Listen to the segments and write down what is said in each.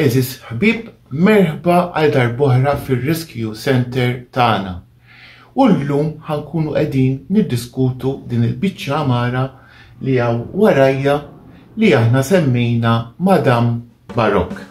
Għeżież ħbieb, merħba għal darb'oħra fir-Rescue Centre tagħna. U llum ħankunu qegħdin niddiskutu din il-biċċa amara li hawn warajja li aħna semmejna Madam Barokk.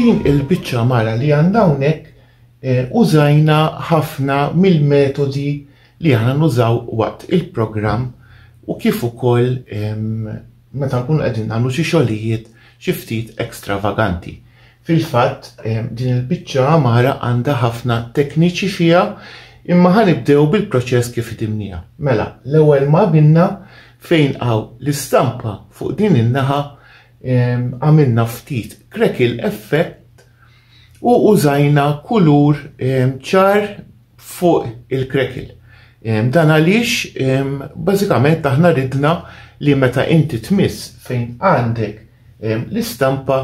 din il-biċċa mara li għandna hawnhekk eh, użajna ħafna mill-metodi li aħna nużaw waqt il-programm u kif ukoll meta nkunu qegħdin nagħmlu xi xogħlijiet xi ftit ekstravaganti. Fil-fatt din il-biċċa għamara għandha ħafna tekniċi fiha imma ħanibdew bil-proċess kif idimnija. Mela, l-ewwel ma binna fejn għaw l-istampa fuq din in-naħa għamilna ftit krekil effett u użajna kulur ċar fuq il-krekil. Dan għaliex bażikament aħna ridna li meta inti tmiss fejn għandek l-istampa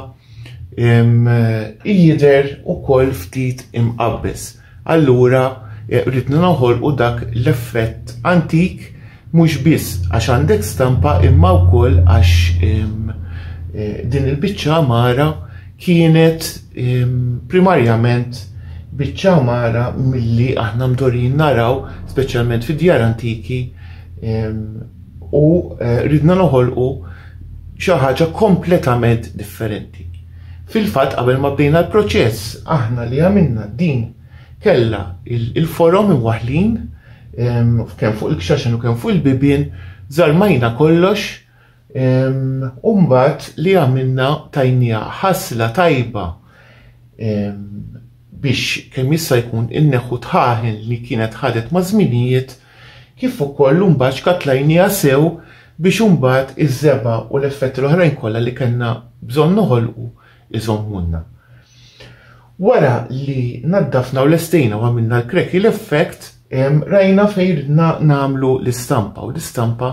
jider ukoll ftit imqabbes. allura ridna noħolqu dak l-effett antik mhux biss għax għandek stampa imma wkoll għax din il-biċċa għamara kienet primarjament biċċa għamara milli aħna mdorin naraw, speċjalment fi djar antiki, u eh, ridna noħolqu xi ħaġa kompletament differenti. Fil-fatt qabel ma bdejna l-proċess aħna li għamilna din kellha il-forom imwaħlin ehm, kemm fuq il-kxaxen u kemm fuq il-bibien, żarmajna kollox ehm, u mbagħad li għamilna tajnija ħasla tajba ehm, biex kemm jista' jkun inneħħu tħaħen li kienet ħadet ma' żminijiet kif ukoll l-unbat xkattlajnieha sew biex imbagħad iż-żebgħa u l-effetti l-oħrajn kollha li kellna bżonn noħolqu iżommulna. Wara li naddafna u lestejna u għamilna l-crackle effect, rajna fejn ridna nagħmlu l-istampa u l-istampa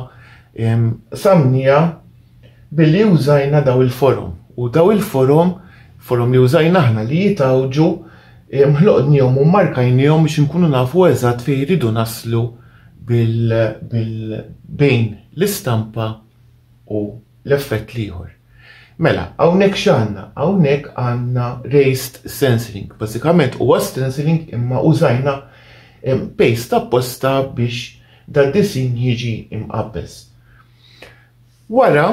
samnija Billi użajna dawn il-forom, u dawn il-forom, forom li użajna aħna li jitgħawġu, eh, ħloqnihom u mmarkajnihom biex inkunu nafu eżatt fejn iridu naslu bil, bil bejn l-istampa u l-effett l-ieħor. Mela, hawnhekk x'għandna? Hawnhekk għandna raised stenciling. Bażikament huwa stenciling imma użajna eh, paste apposta biex dad-disinn jiġi imqabbes. Wara,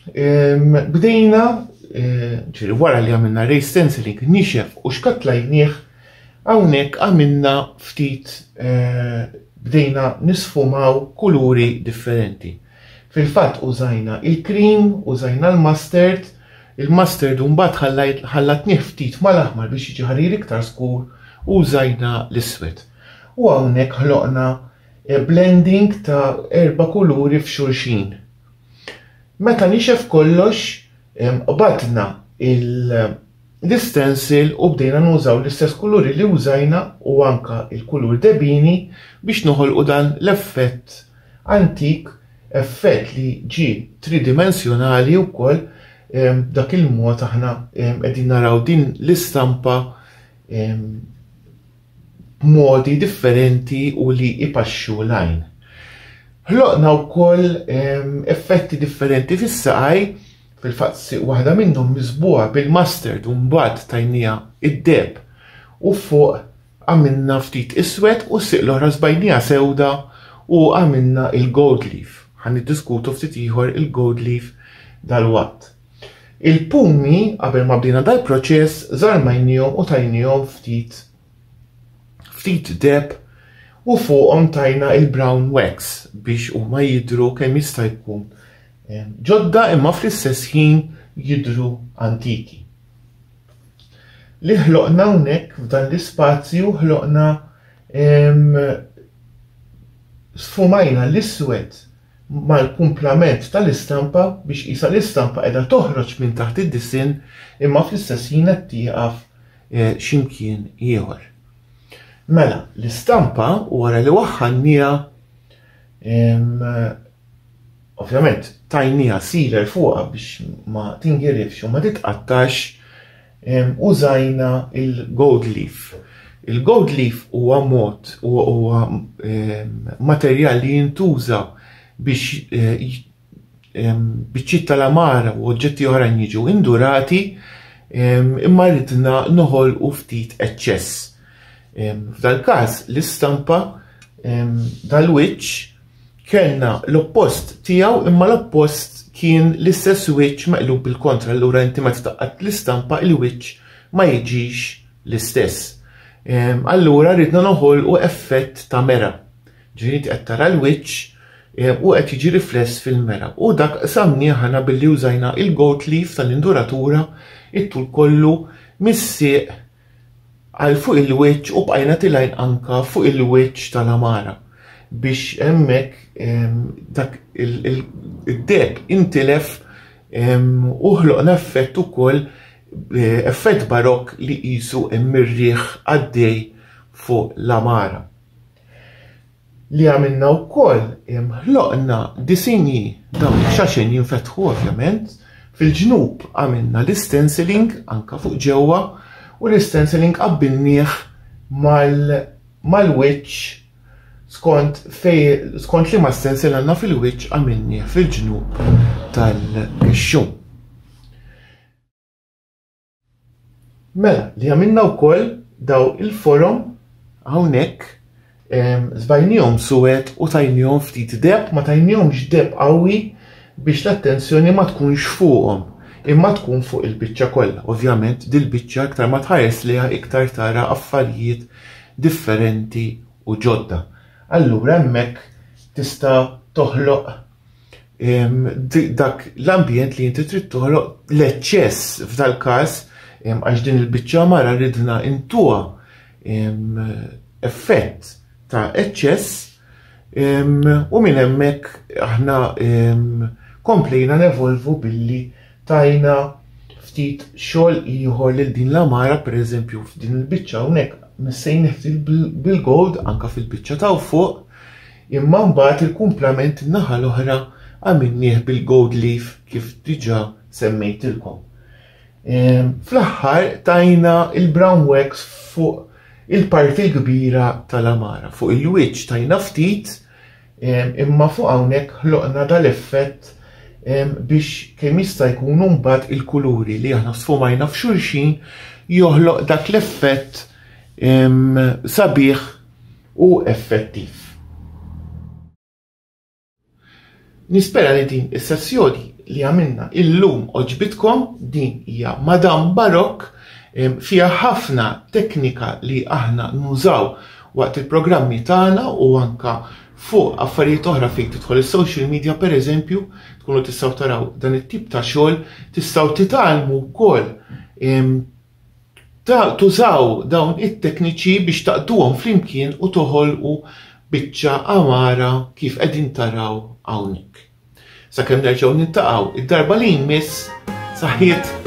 bdejna, ġiri wara li għamilna ray stenciling nixef u xkatlajnieh, hawnhekk għamilna ftit eh, bdejna nisfumaw kuluri differenti. Fil-fatt użajna il-krim, użajna l-mustard, il-mustard u mbagħad ħallatnieh ftit mal-aħmar biex jiġi ħarir iktar skur u użajna l-iswed. U hawnhekk ħloqna Blending ta' erba' kuluri f'xulxin. Meta nixef kollox, qbadna l-istensil u bdejna nużaw l-istess kuluri li użajna u anke l-kulur debini biex noħolqu dan l-effett antik, effett li ġie tridimensjonali wkoll b'dak il-mod aħna qegħdin naraw din l-istampa b'modi differenti u li jpaxxu l-għajn. Ħloqna wkoll effetti differenti fis-saqaj, fil-fatt waħda minnhom miżbuha bil-mustard u mbagħad tajnija id-deheb u fuq għamilna ftit iswed u siq l-oħra żbajnija sewda u għamilna il-gold leaf. Ħa niddiskutu ftit ieħor il-gold leaf dalwaqt. Il-pumi, qabel ma bdejna dal-proċess, żarmajniehom u tajniehom ftit ftit deb u fuqhom tajna il-brown wax biex huma jidhru kemm jista' jkun eh, ġodda imma fl-istess ħin jidhru antiki. Li ħloqna hawnhekk f'dan l-ispazju ħloqna sfumajna l-iswed mal-kumplament tal-istampa biex qisha l-istampa qiegħda toħroġ minn taħt id-disinn imma fl-istess ħin qed tieqaf eh, x'imkien ieħor. Mela, l-istampa wara li waħħannija ovvjament tajnija siler fuqha biex ma tingirifx u ma titqattax użajna il-gold leaf. Il-gold leaf huwa mod huwa materjal li jintuża biex biċċiet tal-għamara u oġġetti oħrajn jiġu indurati imma ridna noħolqu ftit eċċess. F'dal-każ l-istampa dal-wiċċ kellna l-oppost tiegħu imma l-oppost kien l-istess wiċċ meqlub il-kontra allura inti meta taqqat l-istampa il-wiċċ ma jiġix l-istess. Ehm, allura ridna noħolqu effett ta' mera. Ġifieri qed tara l-wiċċ ehm, u qed jiġi rifless fil-mera. U dak samni ħana billi użajna il-goat leaf tal-induratura it-tul kollu mis-sieq għal fuq il-wiċċ u bqajna tilgħin anka fuq il-wiċċ tal-għamara biex hemmhekk ehm, dak id-deb intilef ehm, u ħloqna effett ukoll eh, effett barok li qisu hemm ir-riħ għaddej fuq l-għamara. li għamilna wkoll ħloqna disinji dawn ix-xaxen jinfetħu ovvjament, fil-ġnub għamilna l-stenciling anka fuq ġewwa u l-stenciling qabbilnieh mal-wiċċ skont fej skont liema stencil għandna fil-wiċċ għamilnieh fil-ġnub tal-kexxun. Mela, li għamilna u koll daw il-forum għawnek zbajnijom suwet u tajnijom ftit deb, ma tajnijom ġdeb għawi biex l-attenzjoni ma tkunx fuqom, imma tkun fuq il-bicċa kollha. Ovvjament, dil-bicċa iktar ma tħares liha iktar tara affarijiet differenti u ġodda. Allura hemmhekk tista' toħloq dak l-ambjent li inti trid toħloq l-eċċess f'dal-każ għax din il-biċċa mara ridna intuha effett ta' eċċess u minn hemmhekk aħna komplejna nevolvu billi tajna ftit xogħol ieħor lil din l-amara pereżempju f'din il-biċċa hawnhekk missejn ftit bil-gold anka fil-biċċa ta' fuq Imma mbagħad il-kumplament in-naħa l-oħra għamilnieh bil-gold leaf kif diġà semmejtilkom. Fl-aħħar tajna il-brown wax fuq il-parti l-kbira tal-għamara. Fuq il-wiċċ tajna ftit imma fuq hawnhekk ħloqna dal-effett biex kemm jista' jkun mbagħad il-kuluri li aħna sfumajna f'xulxin joħloq dak l-effett sabiħ u effettiv. Nispera li din is-sessjoni li għamilna illum oġbitkom din hija Madame Barok fiha ħafna teknika li aħna nużaw waqt il-programmi tagħna u anka fuq affarijiet oħra fejn tidħol is-social media pereżempju tkunu tistgħu taraw dan it-tip ta' xogħol tistgħu titgħallmu wkoll Tużaw dawn it-tekniċi biex taqduhom flimkien u toħolqu biċċa għamara kif qegħdin taraw hawnhekk. Sakemm nerġgħu niltaqgħu id-darba li jmiss, saħħiet!